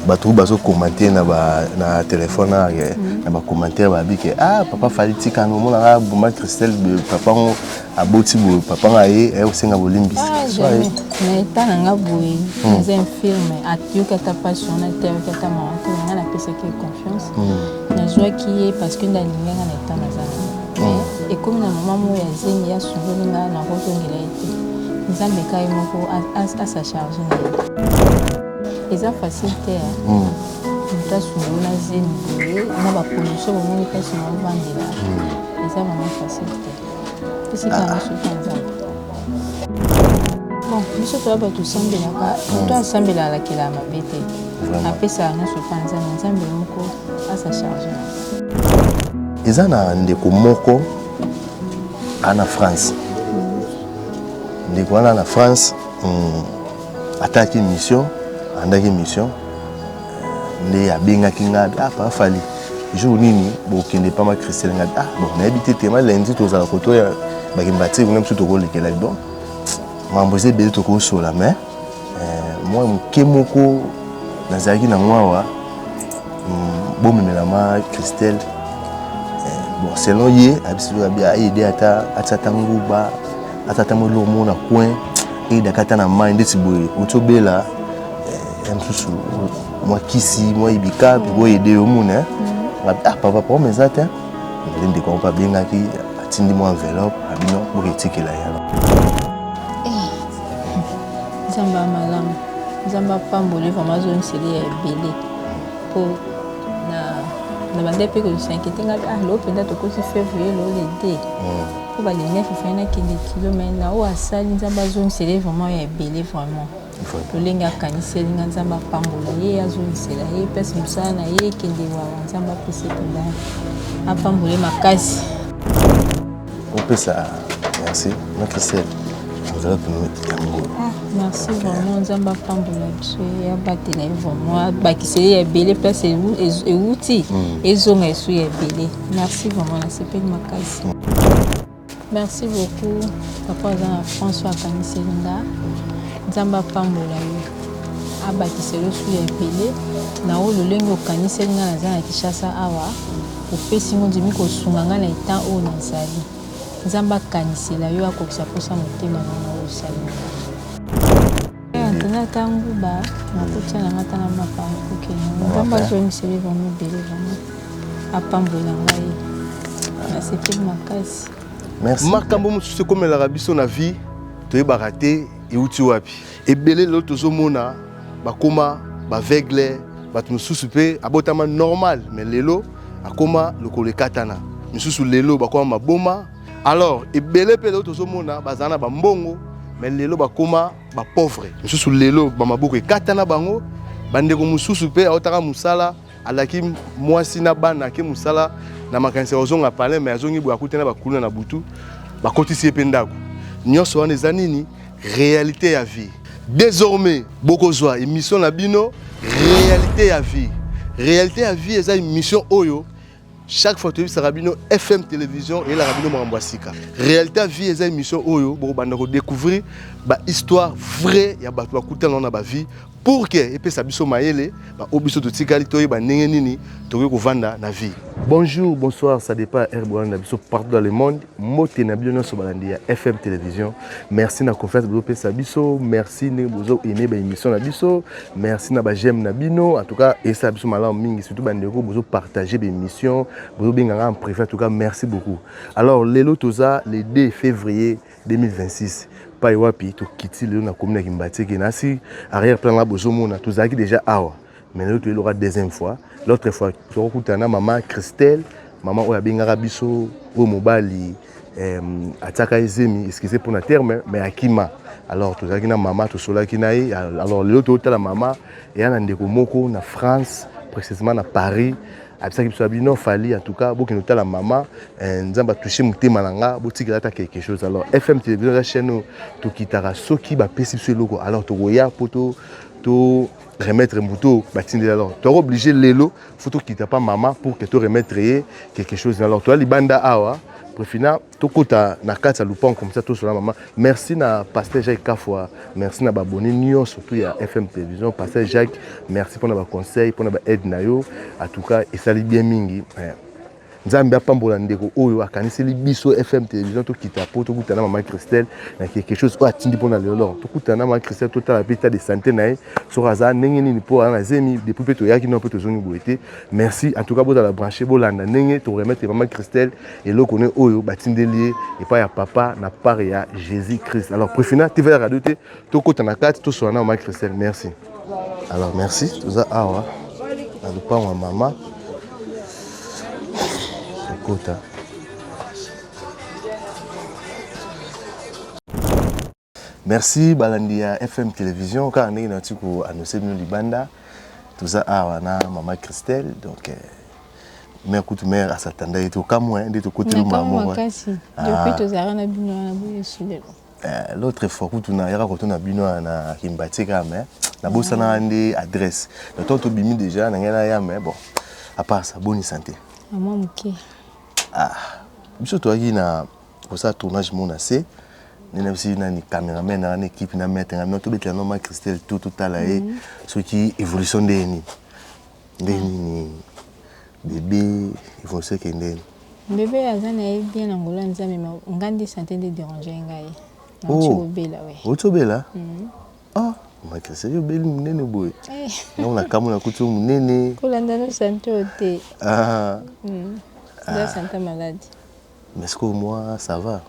bato bazo commenter na ba na téléphone na ke mhm. na ba commentaire ba bike ah papa fali tika no mona ka buma Christelle de papa ngo aboti bo papa nga ye ayo senga bolimbisi ah, so ye na eta na nga boye hmm. c'est un film atuka ta passion na te ka ta ma ko nga na pesa ki confiance hmm. na zwa ki ye parce que na linga na eta na za hmm. et comme na maman mo ya zemi ya subo nga na ko tongela ete nzambe kai moko a sa charge na eza facile te hmm. moto asunga yo na zemi boye na baproduction bomoni mpasi na obandela hmm. eza vraimen facile te esika ah. mosuki ya nzambe bon biso toya bato osambelaka moto hmm. asambela alakela ya mabe te apesaka nyonso mpa nzambe nzambe moko asa charge na eza na ndeko moko ana france ndeko wana na france mm, ataki mission andaki mission nde abengaki ngai ah papa fali jour nini bokende pa ma christelle ngai ah bon nayebi te te ma lundi tozala kotoya bakimbatiki kuna biso tokolekela donc mambo eza ebele tokosola mais euh, mwa moke moko nazalaki na mwawa hmm, bomemela ma christelle euh, bon selon ye abisiabi aide ata atia ta nguba ata ata mwa eloko moko na coin eyedaka ata na mai ndeti boye oti obela eh, ya mosusu mwa kisi mwa ibika mpe boyede yo mona eh. mm. ah papa problème eza te nde ndeko yango mpe abengaki atindi mwa enveloppe abino boka etikela yalo eh. nzambe ya malamu nzambe apamboli vraimen azongiseli ya ebele mpo na bande mpe kozisa inquiété ngai ah loo mpenza tokosi février loo le 2 po ba le 9 efani na kende kilo mais na oyo asali nzambe azongisela ye vraiment ya ebele vraiment lolenge akaniseli nga nzambe apambola ye azongisela ye place mosala na ye ekende wawa nzambe apesa ependa apambola ye makasi opesa merci na christelle ozala tonomete ya ngolo ah, merci vraiment nzambe apambola biso ye abatela ye vraiment abakiseli ya ebele place ewuti hmm. ezonga esu ya ebele Merci vraiment na sepeli makasi. Merci beaucoup papa aza na France oyo akaniseli nga nzambe apambola yo abakisa yo su ya ebele na oyo lolenge okaniseli nga naza na kinshasa awa opesi ngo ndimi kosunga nga na etat oyo nazali nzambe akanisela yo akokisa mposa motema na nga oyo osali Tuna tangu ba makuta na ngata na mapa kuke nzambe azongiseli bango ebele bango apambola ngai nasepeli makasi makambo mosusu ekomelaka biso na vie toyebaka te euti wapi ebele lelo tozomona bakoma baveugle bato mosusu mpe abotama normal me lelo akoma lokolo ekatana misusu lelo bakoma maboma alors ebele mpe lelo tozomona bazala na bambongo mais lelo bakoma bapauvre mosusu lelo bamaboko ekatana bango bandeko mosusu mpe aotaka mosala alaki mwasi na bana ake mosala na makanisi ya kozonga palin mai azongi boye akutana bakuluna na butu bakotisi ye mpe ndako nyonso wana eza nini réalité ya vie désormais bokozwa émission na bino réalité ya vie réalité ya vie eza émission oyo chaque fois toyebisaka bino fm télévision eyelaka bino makambo ya sika réalité ya vie eza émission oyo bokobanda kodécouvrir bahistoire vrai ya bato bakutana na bavie pour ke epesa biso mayele baoyo biso totikali toyeba ndenge nini tokoki kovanda na vie bonjour bonsoir ça dépend ya rboan na biso partout dans le monde mbote na bino nyonso balandi ya fm télévision merci na confiance bozopesa biso merci ndenge bozo aime baémission na biso Merci na ba j'aime na bino. En tout cas, et ça biso malamu mingi surtout ba ndeko bozo partager des missions, bozo benga nga en privé. En tout cas, merci beaucoup. Alors lelo toza le 2 février 2026. Pai wapi to kiti lelo na commune ya Kimbateke na si arrière plan là bozo mona tozalaki déjà awa. Mais lelo to elora deuxième fois. L'autre fois tokutana maman Christelle, maman oyo abengaka biso oyo mobali atiaka ye zemi excuse mpo na terme mais akima alors tozalaki na mama tosolaki na ye alors lelo totala mama eya na ndeko moko na france précisément na paris abisaki biso abi non fali en tout cas bokende otala mama eh, nzambe atouche motema na nga botikela ata quelque chose alors fm télévision eza chaîne oyo tokitaka soki bapesi biso eloko alors tokoya mpo to remettre moto batindeli alors toyaka oblige lelo fo tokita pa mama pour que to remettre ye quelque chose alors toya libanda awa prefina tokota na kati ya lupango comme ça tosola mama merci na pasteur jacques kafwa merci na baboni nyonso surtout ya fm télévision pasteur jacques merci mpona baconseil mpona baaide na yo en tout cas esali bien mingi eh. Nzambe apambola ndeko oyo akaniseli biso FM television tokita po tokutana na maman Christelle na quelque chose oyo atindi mpo na lelo tokutana na maman Christelle totala mpe ta de sante na ye soki aza ndenge nini mpo aza na zemi depuis mpe toyaki nao mpe tozongi boye te merci en tout cas bozala branche bolanda ndenge toremetre maman Christelle eloko ne oyo batindeli ye epai ya papa na part ya Jésus Christ alors prefina tivela radio te tokota na kati tosola na maman Christelle merci Alors merci, toza awa na lopango ya mama kokota. Merci balandi ya FM Television kaka ndenge na tiko annoncer bino libanda toza awa na mama Christelle donc eh, mère kutu mère asatanda ye tokamwe nde tokoteli mama moko. Nakama makasi, depuis ah. tozalaka na bino wana boye esulelo. L'autre fois kutu na yaka koto na bino na kimbati kaka mais na bosana nde adresse na to to bimi déjà na ngai na ya mais bon à part ça bonne santé ah moi muke ah biso to yaki na ko sa tournage mon assez nde na bisi nani cameraman na équipe na maître na bino tobetela no ma Christelle tout tout tala ye mhm. soki évolution nde nini nde nini Bebe evolution ekendeni. Bebe aza na ye bien na ngolo ya Nzambe ma nga nde sante nde déranger ngai. Na ti oh. obela we. Oti obela? Mm. Ah, ma Christian yo beli munene boye. Eh. Na ona kamu na kutu munene. Kolanda no sante ote. Ah. Mm. Nda ah. sante malade. Mais ce que moi ça va?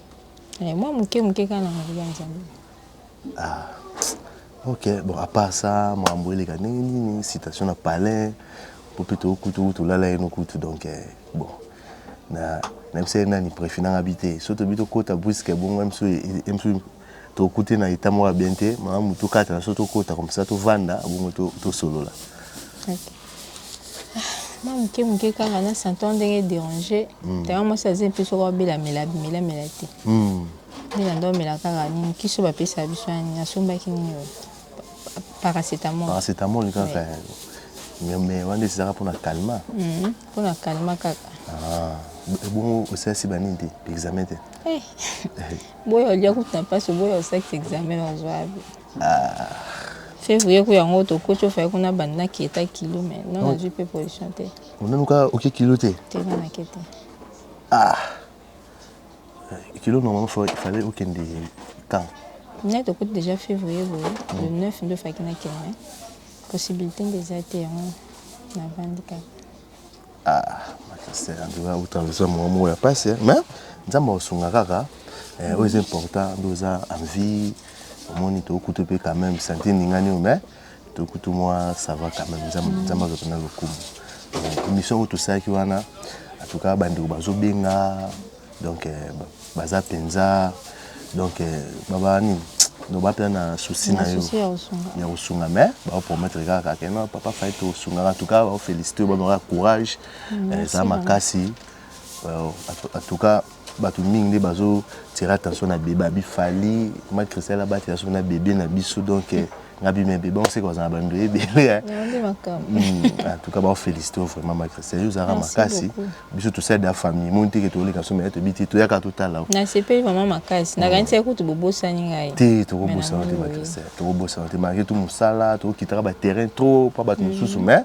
Eh, moi muke muke kana ngolo ya Nzambe. Ah ok bon à part ça makambo eleka ndenge nini citation na palais po mpe to kutu kutu olala yeno kutu donc bon na nayebisa ye nani prefi nanga bi te so tobi tokota briske bongo emsu tokute na etat moko ya bien te malamu tokatana so tokota comme ça tovanda bongo tosolola mwa moke moke kaka na santon ndenge dérange tanga mwasi aza mpe soko abelamela abimelamela te Nini anda omela kaka nini kisi oyo bapesa biso ya nini asombaki nini oyo paracetamol paracetamol kaka eh. mais mais wana ezalaka mpona calma mpona mhm. calma kaka ah. ebongo osalisi banini te examen te eh. eh. boyo olia kutu na mpasi oboyo osalisi examen ozwa yabi ah. février ku yango tokoti ofai kuna banda kieta kilo mai non nazwi mpe position te onanuka oke kilo te te nanake te ah kilo normalement faut il fallait okende quand ngai tokuti déjà février boye le 9 nde ofaki nakende possibilité nde eza te yango navandi kaka otraverse mwa moko ya mpasi mais nzambe akosunga kaka oyo eza important nde oza en vie omoni tokuta mpe quand même sante eningani oyo mais to kutu mwa ça va quand même nzambe nzambe azwa mpena lokumu Euh, émission yango tosalaki wana en tout cas bandeko bazobenga donc euh, ba- baza mpenza donc euh, baba nini donc ba mpenza na souci na yo Nasusi ya kosunga. ya kosunga mais baopromettre kaka ke non papa fai tosungaka en tout cas baofélicité yo bamaka courage eh, eza makasi Euh, en tout- en tout cas Bato mingi nde bazo tire attention na bebe abi fali ma cristal abatela soki na bebe na biso donc eh, nga bi mebe bango seke bazala bando ebele eh. hmm, en tout cas bao félicité vraiment ma cristal yo ozalaka makasi biso tosali da famille moni teke toleka so meye toyebi te toyaka totala nasepeli vraiment makasi hmm. nakanisaki kutu bobosani ngai te tokobosana te ma cristal tokobosana te malgré tout mosala tokokitaka baterrain trop mpo bato hmm. mosusu mais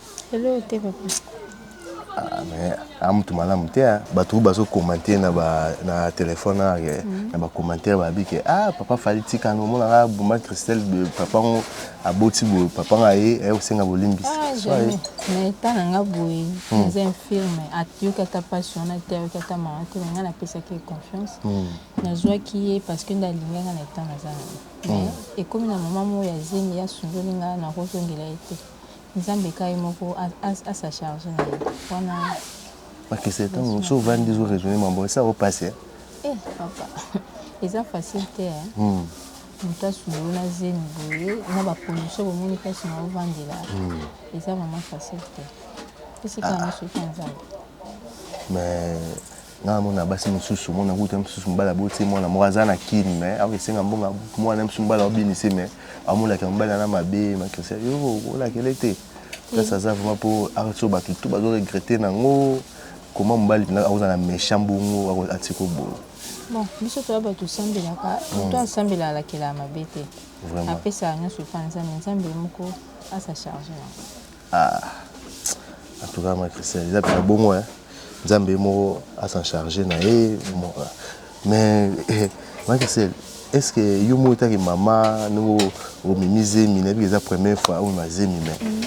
Hello te papa. Ah, mais ah, mutu malamu te hein. Bato oyo bazo commenter na ba na téléphone na mm -hmm. na ba commentaire ba bi que ah papa fali tika no mona ah buma Christelle de papa ngo aboti bo papa nga ye eh osenga bolimbisi. Ah, jamais. Mais ta na nga boye, mm. nze infirme, atiyoka ta passion na te ayoka ta mawa te, nga na pesa ke confiance. Mm. Nazwaki ye parce que ndalingaka na temps nazanga. Mm. Mais ekomi na maman mo ya zemi ya sundoli nga na kozongela ye te. Nzambe ka ye moko a sa charge na ye wana. Ma kese tango so vandi zo raisonner mambo esa o pasi hein. Eh papa eza facile te hein. Hmm. Moto asubulu na zemi boye na ba conditions bomoni place na ovandela hmm. eza vraiment facile te. Esika na ah. soki Nzambe. Mais Nga na mona basi mususu mona kutu mususu mobali aboti mwana moko aza na kin mais awa esenga mbongo ya mwana mususu mobali aobinisi mais amonaka mobali ana mabe makrisia yo olakele te place aza vraiment mpo aso bato tu bazo regrete nango koma mobali mpenza akozala na méchant bongo atika obongo bon biso toya bato osambelaka hmm. to asambela alakelaka mabe te apesaka nyonso epai nzambe nzambe moko asa charge yango Ah, en tout cas, ma Christian, eza pena bongo, hein. Nzambe moko a s'en charger na ye. Mais, eh, ma Christian, est-ce que yo moko taki mama ndenge omemi zemi nayebi ke eza première fois omema zemi mais mm.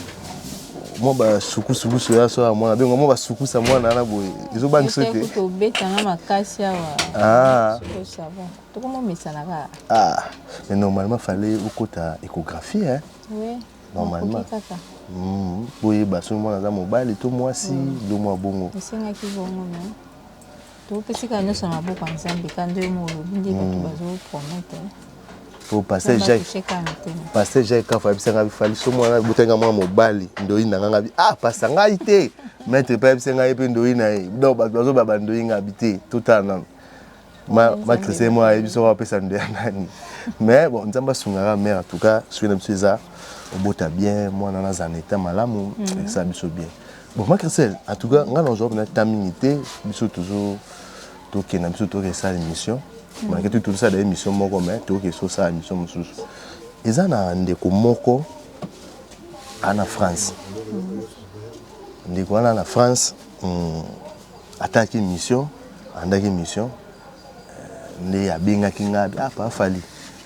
mwa basukusukusu ya so ya mwana bengo mwa basukusa mwana wana boye ezobangisa te tobetanga makasi awa ah. tokomomesanaka ah. mais normalement fallait okota échographie hein? oui. normalement hmm, boyeba soki mwana aza mobali to mwasi bilomo hmm. ya bongo esengaki bongo me topesi kaka nyonso na maboko ya nzambe ka nde yo molobi nde bato hmm. bazoprometre po pasteur jacques pasteur jacques kafa ayebisa ngai bifali so mwana abotaki ngai mwana mobali ndoyi na ngai ngabi ah pasta ngai te maître mpe ayebisa ngai mpe ndoyi na ye donc bato bazoba bandoyi ngai bi te totala nano matrice mwa ayebi soko apesa nde ya nani mais bon nzambe asungaka mare en tout cas soki na biso eza obota bien mwana na aza na eta malamu mm. esa biso bien bon macricel en tout cas ngai nazwa mpena ta mingi te biso tozo tokenda biso toke esala émission mm. malgré tout tozosala émission moko mais toke esosala émission mosusu eza na ndeko moko ana france mm. ndeko wana na france Ataki mission, andaki mission nde abengaki nga ah pa Fally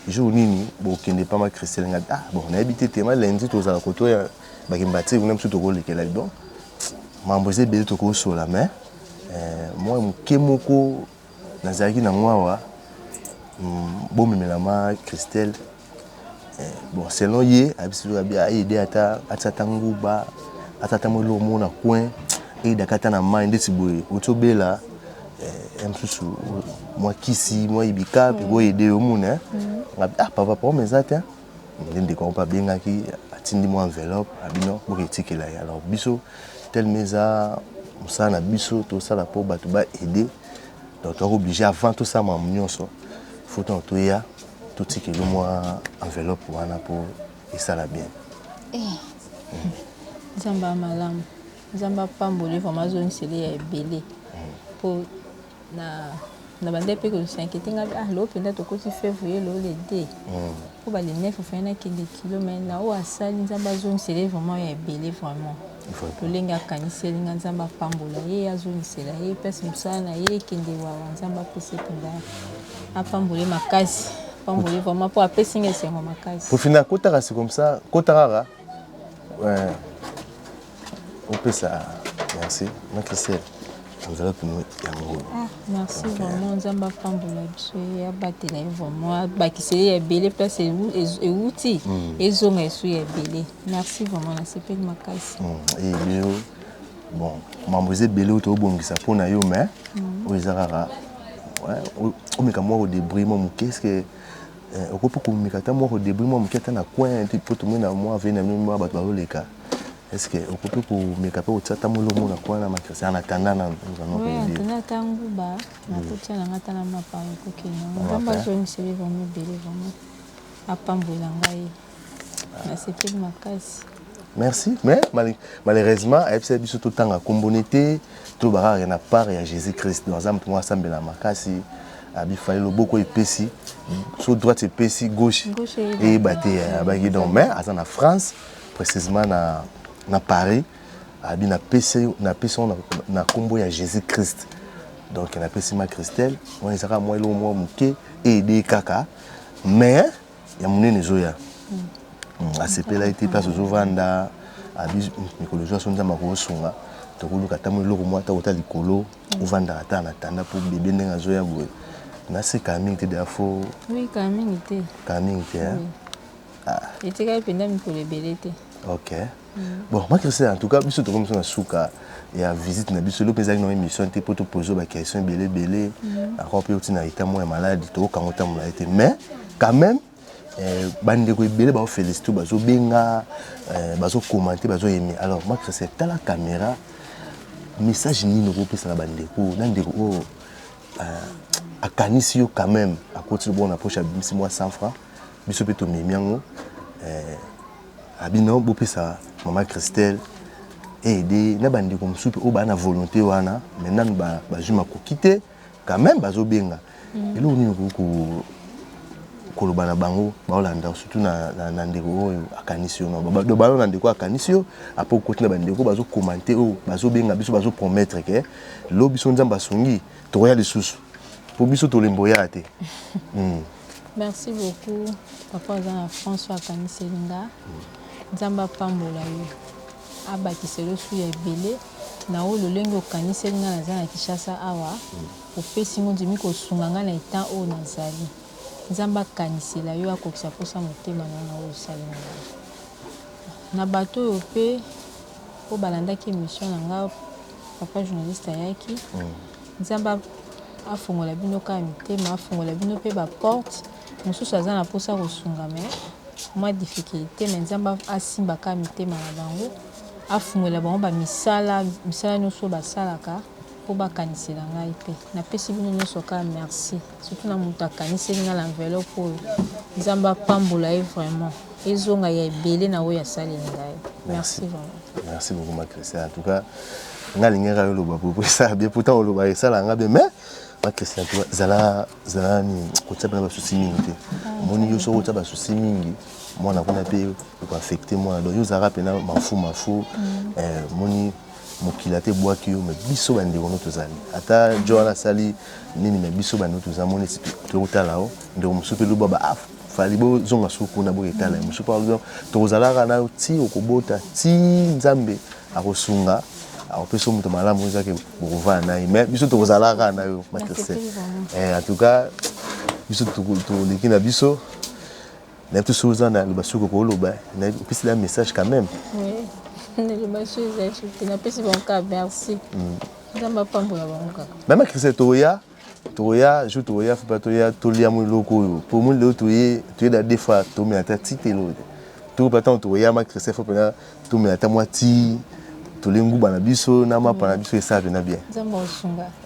jour nini bokende pa ma Christelle nga ah bon nayebi te te ma lundi tozala koto ya bakimbatiri kuna biso tokolekela donc mambo eza ebele tokosola mais eh, mwa moke moko Nazalaki na ngo awa bomemela ma Christelle bon selon ye ayebisi biso abi aide ata atisa ata nguba ata ata mwa eloko moko na coin aide aka ata na mai ndeti boye oti obela ya mosusu mwa kisi mwa ibika mpe boaide yo omona nga ah papa problème eza te nde ndeko yango mpe abengaki atindi mwa enveloppe abi non boke tikela ye alors biso telme eza mosala na biso tosala mpo bato ba aide donc toyaka oblige avant tosala makambo nyonso fo ntango toya totikeli mwa enveloppe wana mpo esala bien eh. mm. nzambe ya malamu nzambe apamboli vraimen azongiseli ya ebele mpo mm. Na bandaki mpe ko s'inquieter, ngai ah lelo mpenza tokoti fevrier, lelo le 2 mpo ba le 9 il fallait nakende kilo mais na oyo asali Nzambe azongisela ye vraiment ya ebele vraiment lolenge akaniseli ngai Nzambe apambola ye azongisela ye place mosala na ye ekende wawa Nzambe apesa ye mpenza apambola ye makasi apambola ye vraiment mpo apesi ngai esengo makasi. Mpo fina akotaka c'est comme ça, kota kaka eh. Opesa merci ma Christelle enveloppe no ya ngulu. Ah, merci vraiment Nzambe apambola biso ye abatela ye vraiment abakisa ye ya ebele place ewuti hmm. ezonga esu ya ebele merci vraiment nasepeli makasi. Eyo hmm. eh, bon mambo eza ebele oyo tobongisa mpo na yo mais hmm. oyo eza kaka omeka mwa kodebrie mwa moke eske okoki mpe komeka ata mwa kodebrie mwa moke ata na coin mpo tomoni na mwa vene na bino mwa bato bazoleka Est ce que okoki komeka mpe kotia ata molo mona kwa na makresi en attendant na ozana koyebie na ntango ba nakotia na ngai ata na mapa ekokende yango nzambe azongiseli vraimen ebele vraimen apambola ngai nasepeli makasi merci mais malheureusement ayebisaki biso totanga kombone te tolobaka kaka na part ya jésus christ donc aza moto moko asambela makasi abifali loboko epesi so droite epesi gauche eyeba te abaki donc mais aza na france precisement na, na Paris abi na pesi na pesi na, na kombo ya Jésus Christ donc na pesi ma Christelle on ezaka moi lo moi muke et de kaka mais ya munene zoya mm. asepela ete place ozovanda abi mikolo zwa so nzambe akosunga tokoluka ata mo eloko mwa ata kota likolo ovandaka ata na tanda mpo bebe ndenge azoya boye naseka mingi te defo oui, kaka mingi te kaka mingi te oui. etikali mpenza mikolo ebele te ok bon ma christelle en tout cas biso tokomi biso na suka ya visite na biso eloki ezalaki na émission te mpo topose ba question ebele ebele mhm. encore mpe oti na reta moko ya maladi tokokango ntango na ye te mais quand même eh, bandeko ebele baofélicite bazobenga eh, bazokommente bazoyeme alors ma christelle tala caméra message nini okopesa na bandeko na ndeko oyo euh, akanisi yo quand même akoti lobongo na poche abimisi mwa 100 francs biso mpe tomemi yango eh, abino bopesa mama christelle aide na bandeko mosusu mpe oyo baa na volonté wana mai nanu bazwi makoki te quand même bazobenga mm. eloko nini okoki koloba na bango baolanda surtout na, na, na ndeko oyo akanisi yo balo na ndeko akanisi yo apo okoti na bandeko bazokomante oyo bazobenga biso bazopromettre ke lo biso nzambe asungi tokoya lisusu mpo biso tolembo ya te mm. Merci beaucoup papa oza na France oyo akaniseli nga nzambe apambola yo abakisa elosu ya ebele na oyo lolenge okaniseli nga naza na Kinshasa awa opesi ngo ndimi kosunga nga na etan oyo nazali nzambe akanisela yo akokisa mposa motema na na oyo osali na nga na bato oyo mpe oyo balandaki emission na nga papa journaliste ayaki mm. Nzambe afongola bino kaka mitema, afongola bino pe ba porte, mususu aza na posa kosunga mais mwa difficulte, mais Nzambe asimba kaka mitema na bango, afungolela bango ba misala, misala nionso oyo basalaka po bakanisela ngai pe. Napesi bino nionso kaka merci. Surtout na mutu akaniseli nga na enveloppe oyo. Nzambe apambola ye vraiment. Ezonga ya ebele na oyo asaleli ngai. Merci vraiment. Merci beaucoup ma Christian. En tout cas, nga lingaka yo loba popo esala bien pourtant oloba esala nga bien mais ma Christian tu zala zala ni kotia bana basusi mingi te. Omoni yo soki otia basusi mingi mwana kuna pe ekoaffecte mwana donc yo ozalaka mpena mafu mafu mm. eh, moni mokili ata ebwaki yo mais biso bandeko no tozali ata jo wana asali nini mais biso bandeko toza moni esi tokotala yo ndeko mosusu mpe loba ba ah, fali bozonga suku kuna boketala ye mosusu mpe alobi tokozalaka nayo ti okobota ti nzambe akosunga akopesa moto malamu ezaki bokovaa na ye mais biso tokozala kaka na yo matrese eh, en tout cas biso toleki na biso nayebi te soki oza na liloba soki okoki oloba nayebi opesi la message quand même liloba soki ezali soki te napesi bango kaka merci hmm. nzambe apambola bango kaka mama christel tokoya tokoya jour tokoya fo mpe toya tolia mwa eloko oyo mpo mwa lelo toye toyeda de fois tomela ta ti te eloko te toko mpe ntango tokoya ma christel fo mpenza Tomela ata mwa tii tole nguba na biso na mapa na biso esala pena bien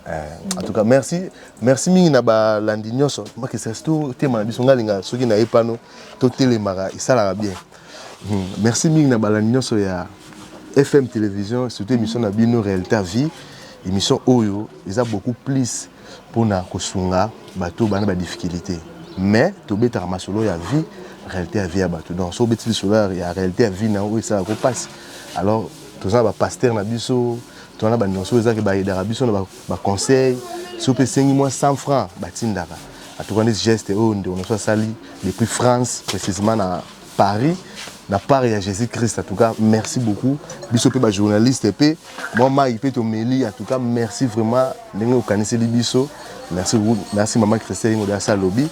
eh, en tout cas merci merci mingi na balandi nyonso makesasi totema na biso ngai linga soki na ye pano totelemaka esalaka bien hmm, merci mingi na balandi nyonso ya fm télévision surtout émission na bino réalité vie émission oyo eza beaucoup plus pona kosunga batu oyo ba na ba difficulite mais tobetaka masolo ya vie realite ya vie ya batu donc soki obeti lisolo ya realite ya vie na yo oyo esalaka yo pasi alors toza na ba pasteur na biso toza na ba nionso oyo eza ke ba aidaka biso na ba conseil soki mpe esengi mwa 100 francs batindaka en tout cas neti geste oyo ndeko na biso asali depuis France precisement na Paris na part ya Jesus Christ en tout cas merci beaucoup biso pe ba journaliste pe moi mai pe tomeli en tout cas merci vraiment ndenge okaniseli biso merci beaucoup merci maman Christelle Ingo da Salobi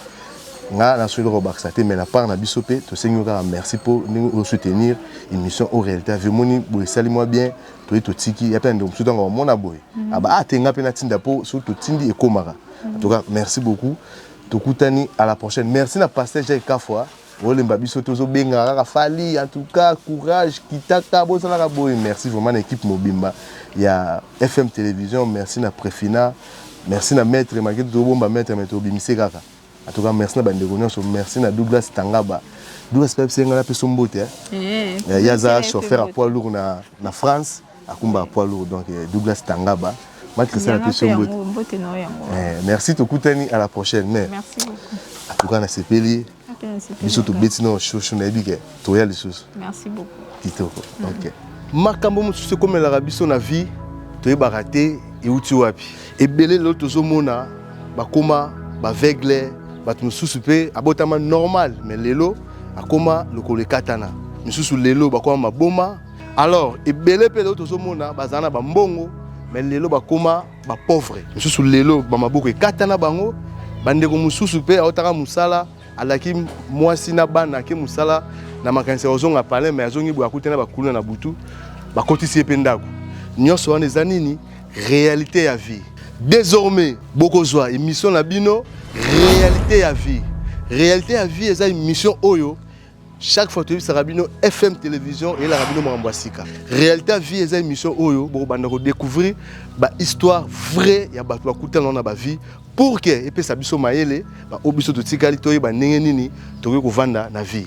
nga na solo bakisa te mais na part na biso pe tosengi kaka merci po ndenge o soutenir émission au réalité vie moni bo esali moi bien toye totiki ya pe ndeko mosusu ntango bamona boye mhm. aba ah, atenga pe natinda po soki totindi ekomaka en tout cas merci beaucoup tokutani à la prochaine merci na pasteur Jacques Kafwa Bolemba biso tozo benga kaka fali en tout cas courage kitaka bozala ka boye merci vraiment na équipe mobimba ya FM télévision merci na Prefina merci na maître maketu to bomba maître mais to bimise kaka en tout cas merci na bande nyonso merci na Douglas Tangaba Douglas pe senga na peso mbote eh, eh. eh yaza chauffeur à poids lourd na na France Akumba poids lourd donc euh, Douglas Tangaba. Mike sala pe sombo. Mbote na yango. Eh, merci tokutani à la prochaine mais. Merci beaucoup. En tout cas na sepeli. Biso tobeti na shosho na yebi ke toya lisusu. Merci beaucoup. Kitoko. Mm. OK. Makambo mosusu ekomelaka biso na vie toyebaka te euti wapi. Ebele lelo tozomona bakoma baveugle bato mosusu mpe abotama normal mais lelo akoma lokolo ekatana misusu lelo bakoma maboma alors ebele mpe lelo tozomona bazala na bambongo mais lelo bakoma bapauvre mosusu lelo bamaboko ekatana bango bandeko mosusu mpe aotaka mosala alaki mwasi na bana ake mosala na makanisi ya kozonga palin mai azongi boye akutana bakuluna na butu bakotisi ye mpe ndako nyonso wana eza nini réalité ya vie désormais bokozwa émission na bino réalité ya vie réalité ya vie eza émission oyo chaque fois toyebisaka bino fm télévision eyelaka bino makambo ya sika réalité ya vie eza émission oyo bokobanda kodécouvrir bahistoire vrai ya bato bakutana na bavie pour ke epesa biso mayele baoyo biso totikali toyeba ndenge nini tokoki kovanda na vie